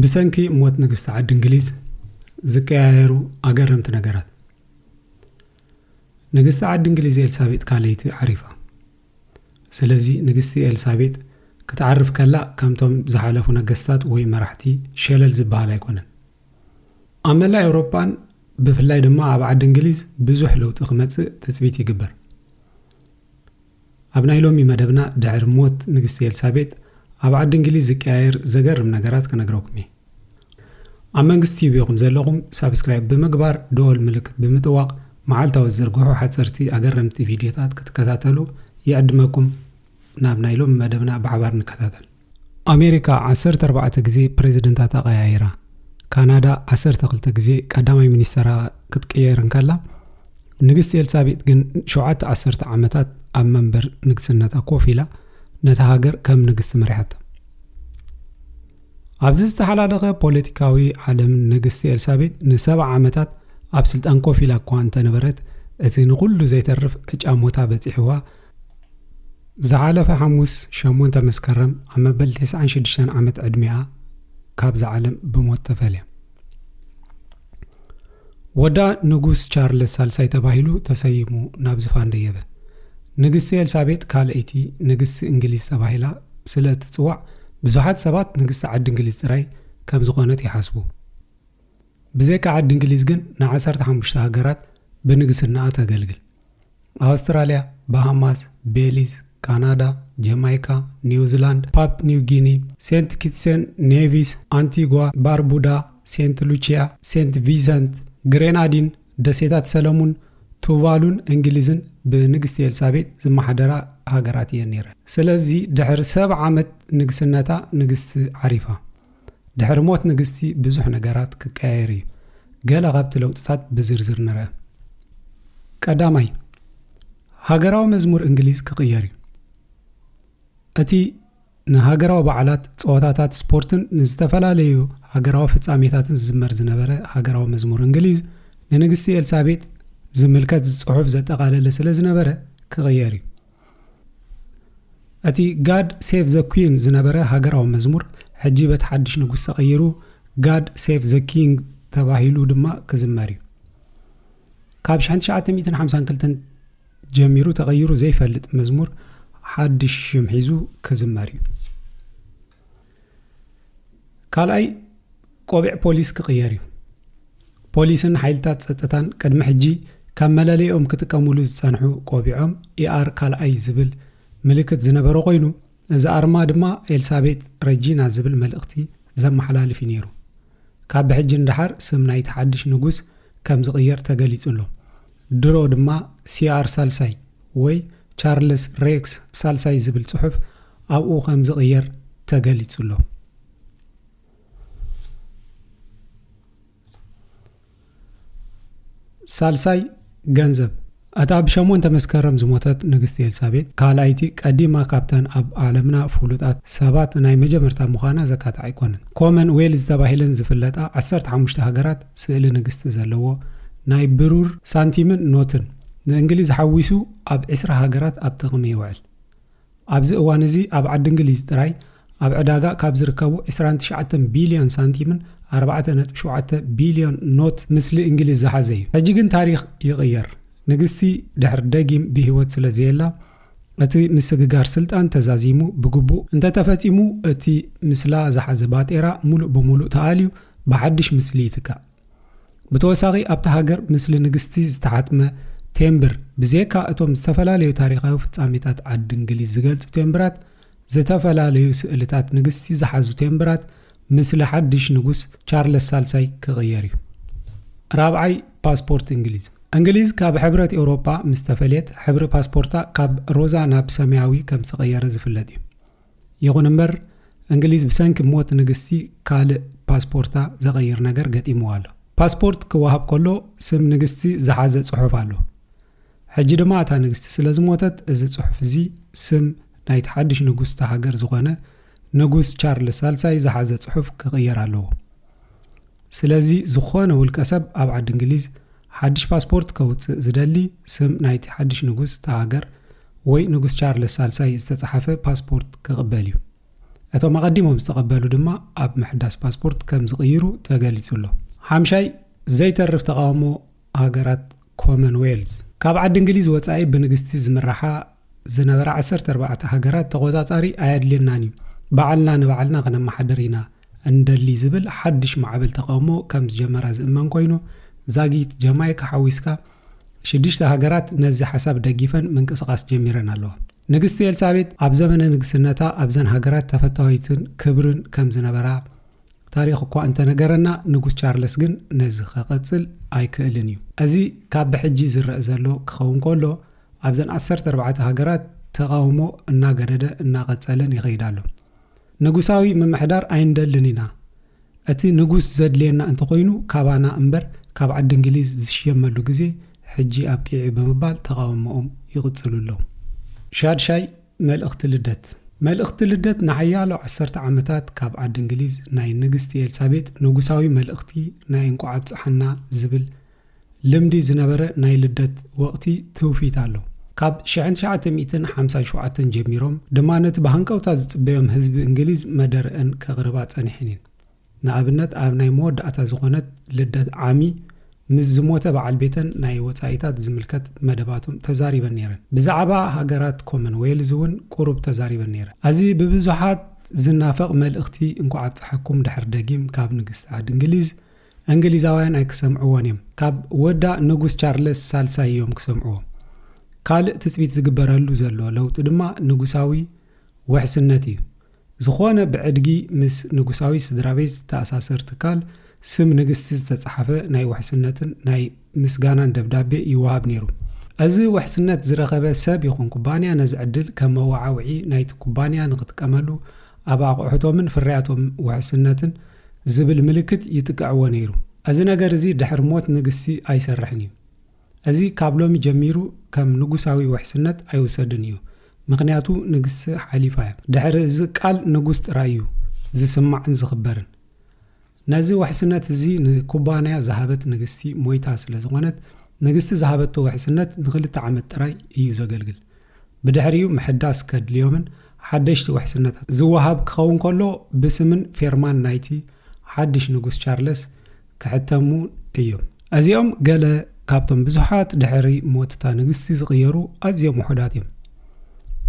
ብሰንኪ ሞት ንግስቲ ዓዲ እንግሊዝ ዝቀያየሩ ኣገረምቲ ነገራት ንግስቲ ዓዲ እንግሊዝ ኤልሳቤጥ ካልይቲ ዓሪፋ ስለዚ ንግስቲ ኤልሳቤጥ ክትዓርፍ ከላ ከምቶም ዝሓለፉ ነገስታት ወይ መራሕቲ ሸለል ዝበሃል ኣይኮነን። ኣብ መላእ ኤውሮጳን ብፍላይ ድማ ኣብ ዓዲ እንግሊዝ ብዙሕ ለውጢ ክመጽእ ትጽቢት ይግበር። ኣብ ናይ ሎሚ መደብና ድሕሪ ሞት ንግስቲ ኤልሳቤጥ ኣብ ዓዲ እንግሊዝ ዝቀያየር ዘገርም ነገራት ክነግረኩም እየ። ኣብ መንግስት ቲዩብ ኢኹም ዘለኹም ሳብስክራይብ ብምግባር ደወል ምልክት ብምጥዋቕ መዓልታዊ ዝዝርግሑ ሓጸርቲ ኣገረምቲ ቪድዮታት ክትከታተሉ ይዕድመኩም ናብ ናይ ሎሚ መደብና ብሓባር ንከታተል ኣሜሪካ ዓሰርተ ኣርባዕተ ግዜ ፕሬዚደንታታ ቀያይራ ካናዳ ዓሰርተ ክልተ ግዜ ቀዳማይ ሚኒስተራ ክትቅየር እንከላ ንግስቲ ኤልሳቤጥ ግን ሸውዓተ ዓሰርተ ዓመታት ኣብ መንበር ንግስነታ ኮፍ ኢላ ነታ ሃገር ከም ንግስቲ መሪሓታ ኣብዚ ዝተሓላለኸ ፖለቲካዊ ዓለም ንግስቲ ኤልሳቤጥ ንሰብዓ ዓመታት ኣብ ስልጣን ኮፍ ኢላ እኳ እንተነበረት እቲ ንኹሉ ዘይተርፍ ዕጫ ሞታ በጺሕዋ ዝሓለፈ ሓሙስ ሸሞንተ መስከረም ኣብ መበል ተስዓን ሽዱሽተን ዓመት ዕድሚኣ ካብዛ ዓለም ብሞት ተፈልያ። ወዳ ንጉስ ቻርለስ ሳልሳይ ተባሂሉ ተሰይሙ ናብ ዝፋን ደየበ። ንግስቲ ኤልሳቤጥ ካልኣይቲ ንግስቲ እንግሊዝ ተባሂላ ስለ እትጽዋዕ ብዙሓት ሰባት ንግስቲ ዓዲ እንግሊዝ ጥራይ ከም ዝኾነት ይሓስቡ። ብዘይካ ዓዲ እንግሊዝ ግን ንዓሰርተ ሓሙሽተ ሃገራት ብንግስናኣ ተገልግል። ኣውስትራልያ፣ ባሃማስ፣ ቤሊዝ፣ ካናዳ፣ ጀማይካ፣ ኒውዚላንድ፣ ፓፕ ኒው ጊኒ፣ ሴንት ኪትሰን ኔቪስ፣ ኣንቲጓ፣ ባርቡዳ፣ ሴንት ሉቺያ፣ ሴንት ቪሰንት፣ ግሬናዲን፣ ደሴታት ሰለሙን፣ ቱቫሉን እንግሊዝን ብንግስቲ ኤልሳቤጥ ዝመሓደራ ሃገራት እየን ነይረን። ስለዚ ድሕሪ ሰብዓ ዓመት ንግስነታ ንግስቲ ዓሪፋ። ድሕሪ ሞት ንግስቲ ብዙሕ ነገራት ክቀያየር እዩ። ገለ ካብቲ ለውጥታት ብዝርዝር ንርኣ። ቀዳማይ፣ ሃገራዊ መዝሙር እንግሊዝ ክቕየር እዩ። እቲ ንሃገራዊ በዓላት፣ ጸወታታት ስፖርትን ንዝተፈላለዩ ሃገራዊ ፍጻሜታትን ዝዝመር ዝነበረ ሃገራዊ መዝሙር እንግሊዝ ንንግስቲ ኤልሳቤጥ ዝምልከት ጽሑፍ ዘጠቓለለ ስለ ዝነበረ ክቕየር እዩ። እቲ ጋድ ሴቭ ዘ ኩን ዝነበረ ሃገራዊ መዝሙር ሕጂ በቲ ሓድሽ ንጉስ ተቐይሩ ጋድ ሴቭ ዘ ኪንግ ተባሂሉ ድማ ክዝመር እዩ ካብ 1952 ጀሚሩ ተቐይሩ ዘይፈልጥ መዝሙር ሓድሽ ሽም ሒዙ ክዝመር እዩ ካልኣይ ቆቢዕ ፖሊስ ክቕየር እዩ። ፖሊስን ሓይልታት ጸጥታን ቅድሚ ሕጂ ካብ መለለይኦም ክጥቀሙሉ ዝጸንሑ ቆቢዖም ኢኣር ካልኣይ ዝብል ምልክት ዝነበረ ኮይኑ እዚ ኣርማ ድማ ኤልሳቤጥ ረጂና ዝብል መልእኽቲ ዘመሓላልፍ እዩ ነይሩ። ካብ ብሕጂ ንደሓር ስም ናይቲ ሓድሽ ንጉስ ከም ዝቕየር ተገሊጹ ኣሎ። ድሮ ድማ ሲኣር ሳልሳይ ወይ ቻርልስ ሬክስ ሳልሳይ ዝብል ጽሑፍ ኣብኡ ከም ዝቕየር ተገሊጹ ኣሎ። ሳልሳይ ገንዘብ እታ ብ ሸሞንተ መስከረም ዝሞተት ንግስቲ ኤልሳቤጥ ካልኣይቲ ቀዲማ ካብተን ኣብ ዓለምና ፍሉጣት ሰባት ናይ መጀመርታ ምዃና ዘካትዕ ኣይኮነን። ኮመን ዌልዝ ተባሂለን ዝፍለጣ ዓሰርተ ሓሙሽተ ሃገራት ስእሊ ንግስቲ ዘለዎ ናይ ብሩር ሳንቲምን ኖትን፣ ንእንግሊዝ ሓዊሱ ኣብ ዕስራ ሃገራት ኣብ ጥቕሚ ይውዕል። ኣብዚ እዋን እዚ ኣብ ዓዲ እንግሊዝ ጥራይ ኣብ ዕዳጋ ካብ ዝርከቡ ዕስራን ትሽዓተን ቢልዮን ሳንቲምን ኣርባዕተ ነጥቢ ሸውዓተ ቢልዮን ኖት ምስሊ እንግሊዝ ዝሓዘ እዩ። ሕጂ ግን ታሪኽ ይቕየር። ንግስቲ ድሕር ደጊም ብህይወት ስለዘየላ፣ እቲ ምስግጋር ስልጣን ተዛዚሙ ብግቡእ እንተተፈጺሙ እቲ ምስላ ዝሓዘ ባጤራ ሙሉእ ብሙሉእ ተኣልዩ ብሓድሽ ምስሊ ይትካእ። ብተወሳኺ ኣብታ ሃገር ምስሊ ንግስቲ ዝተሓትመ ቴምብር ብዜካ እቶም ዝተፈላለዩ ታሪኻዊ ፍጻሜታት ዓዲ እንግሊዝ ዝገልጹ ቴምብራት ዝተፈላለዩ ስእልታት ንግስቲ ዝሓዙ ቴምብራት ምስሊ ሓድሽ ንጉስ ቻርለስ ሳልሳይ ክቕየር እዩ። ራብዓይ ፓስፖርት እንግሊዝ እንግሊዝ ካብ ሕብረት ኤውሮጳ ምስ ተፈልየት ሕብሪ ፓስፖርታ ካብ ሮዛ ናብ ሰማያዊ ከም ዝተቐየረ ዝፍለጥ እዩ። ይኹን እምበር እንግሊዝ ብሰንኪ ሞት ንግስቲ ካልእ ፓስፖርታ ዘቐይር ነገር ገጢምዋ ኣሎ። ፓስፖርት ክወሃብ ከሎ ስም ንግስቲ ዝሓዘ ጽሑፍ ኣሎ። ሕጂ ድማ እታ ንግስቲ ስለ ዝሞተት እዚ ጽሑፍ እዚ ስም ናይቲ ሓድሽ ንጉስ እታ ሃገር ዝኾነ ንጉስ ቻርልስ ሳልሳይ ዝሓዘ ጽሑፍ ክቕየር ኣለዎ። ስለዚ ዝኾነ ውልቀ ሰብ ኣብ ዓዲ እንግሊዝ ሓድሽ ፓስፖርት ከውጽእ ዝደሊ ስም ናይቲ ሓድሽ ንጉስ እታ ሃገር ወይ ንጉስ ቻርልስ ሳልሳይ ዝተጻሓፈ ፓስፖርት ክቕበል እዩ። እቶም ኣቐዲሞም ዝተቐበሉ ድማ ኣብ ምሕዳስ ፓስፖርት ከም ዝቕይሩ ተገሊጹ ኣሎ። ሓምሻይ ዘይተርፍ ተቓውሞ ሃገራት ኮመን ዌልዝ፣ ካብ ዓዲ እንግሊዝ ወጻኢ ብንግስቲ ዝምራሓ ዝነበራ ዓሰርተ ኣርባዕተ ሃገራት ተቖጻጻሪ ኣየድልየናን እዩ፣ ባዕልና ንባዕልና ክነመሓድር ኢና እንደሊ ዝብል ሓድሽ ማዕበል ተቓውሞ ከም ዝጀመራ ዝእመን ኮይኑ፣ ዛጊት ጀማይካ ሓዊስካ ሽዱሽተ ሃገራት ነዚ ሓሳብ ደጊፈን ምንቅስቓስ ጀሚረን ኣለዋ። ንግስቲ ኤልሳቤጥ ኣብ ዘመነ ንግስነታ ኣብዘን ሃገራት ተፈታዊትን ክብርን ከም ዝነበራ፣ ታሪኽ እኳ እንተነገረና ንጉስ ቻርለስ ግን ነዚ ከቐጽል ኣይክእልን እዩ። እዚ ካብ ብሕጂ ዝረእ ዘሎ ክኸውን ከሎ ኣብዘን ዓሰርተ ኣርባዕተ ሃገራት ተቓውሞ እናገደደ እናቐጸለን ይኸይድ ኣሎ። ንጉሳዊ ምምሕዳር ኣይንደልን ኢና፣ እቲ ንጉስ ዘድልየና እንተኾይኑ ካባና እምበር ካብ ዓዲ እንግሊዝ ዝሽየመሉ ግዜ ሕጂ ኣብቂዑ ብምባል ተቓውሞኦም ይቕጽሉ ኣለዉ። ሻድሻይ መልእኽቲ ልደት መልእኽቲ ልደት ንሓያሎ ዓሰርተ ዓመታት ካብ ዓዲ እንግሊዝ ናይ ንግስቲ ኤልሳቤጥ ንጉሳዊ መልእኽቲ ናይ እንቋዕ ኣብጽሓና ዝብል ልምዲ ዝነበረ ናይ ልደት ወቕቲ ትውፊት ኣሎ። ካብ ሽሕን ትሽዓተ ሚእትን ሓምሳን ሸውዓተን ጀሚሮም ድማ ነቲ ብሃንቀውታ ዝጽበዮም ህዝቢ እንግሊዝ መደረኣን ከቕርባ ጸኒሐን እየን። ንኣብነት ኣብ ናይ መወዳእታ ዝኾነት ልደት ዓሚ ምስ ዝሞተ በዓል ቤተን ናይ ወጻኢታት ዝምልከት መደባቶም ተዛሪበን ነይረን። ብዛዕባ ሃገራት ኮመን ዌልዝ እውን ቁሩብ ተዛሪበን ነይረን። ኣዚ ብብዙሓት ዝናፈቕ መልእኽቲ እንኳዕ ኣብጸሐኩም ድሕር ደጊም ካብ ንግስቲ ዓዲ እንግሊዝ እንግሊዛውያን ኣይክሰምዕዎን እዮም ካብ ወዳ ንጉስ ቻርለስ ሳልሳይ እዮም ክሰምዕዎ ካልእ ትጽቢት ዝግበረሉ ዘሎ ለውጢ ድማ ንጉሳዊ ውሕስነት እዩ ዝኾነ ብዕድጊ ምስ ንጉሳዊ ስድራቤት ዝተኣሳሰር ትካል፣ ስም ንግስቲ ዝተጻሓፈ ናይ ውሕስነትን ናይ ምስጋናን ደብዳቤ ይወሃብ ነይሩ። እዚ ውሕስነት ዝረኸበ ሰብ ይኹን ኩባንያ ነዚ ዕድል ከም መወዓውዒ ናይቲ ኩባንያ ንኽጥቀመሉ ኣብ ኣቑሑቶምን ፍርያቶም ውሕስነትን ዝብል ምልክት ይጥቅዕዎ ነይሩ። እዚ ነገር እዚ ድሕሪ ሞት ንግስቲ ኣይሰርሕን እዩ። እዚ ካብ ሎሚ ጀሚሩ ከም ንጉሳዊ ውሕስነት ኣይውሰድን እዩ፣ ምኽንያቱ ንግስቲ ሓሊፋ እያ። ድሕሪ እዚ ቃል ንጉስ ጥራይ እዩ ዝስማዕን ዝኽበርን። ነዚ ውሕስነት እዚ ንኩባንያ ዝሃበት ንግስቲ ሞይታ ስለ ዝኾነት፣ ንግስቲ ዝሃበቶ ውሕስነት ንኽልተ ዓመት ጥራይ እዩ ዘገልግል። ብድሕሪኡ ምሕዳስ ከድልዮምን ሓደሽቲ ውሕስነታት ዝወሃብ ክኸውን ከሎ ብስምን ፌርማን ናይቲ ሓድሽ ንጉስ ቻርለስ ክሕተሙ እዮም። እዚኦም ገለ ካብቶም ብዙሓት ድሕሪ ሞትታ ንግስቲ ዝቕየሩ ኣዝዮም ውሑዳት እዮም።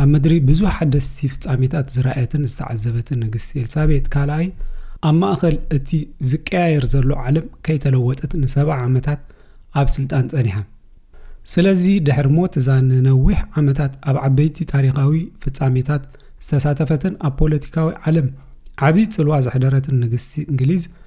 ኣብ ምድሪ ብዙሕ ሓደስቲ ፍጻሜታት ዝረኣየትን ዝተዓዘበትን ንግስቲ ኤልሳቤጥ ካልኣይ ኣብ ማእኸል እቲ ዝቀያየር ዘሎ ዓለም ከይተለወጠት ንሰብዓ ዓመታት ኣብ ስልጣን ጸኒሓ ስለዚ ድሕሪ ሞት እዛ ንነዊሕ ዓመታት ኣብ ዓበይቲ ታሪኻዊ ፍጻሜታት ዝተሳተፈትን ኣብ ፖለቲካዊ ዓለም ዓብዪ ጽልዋ ዘሕደረትን ንግስቲ እንግሊዝ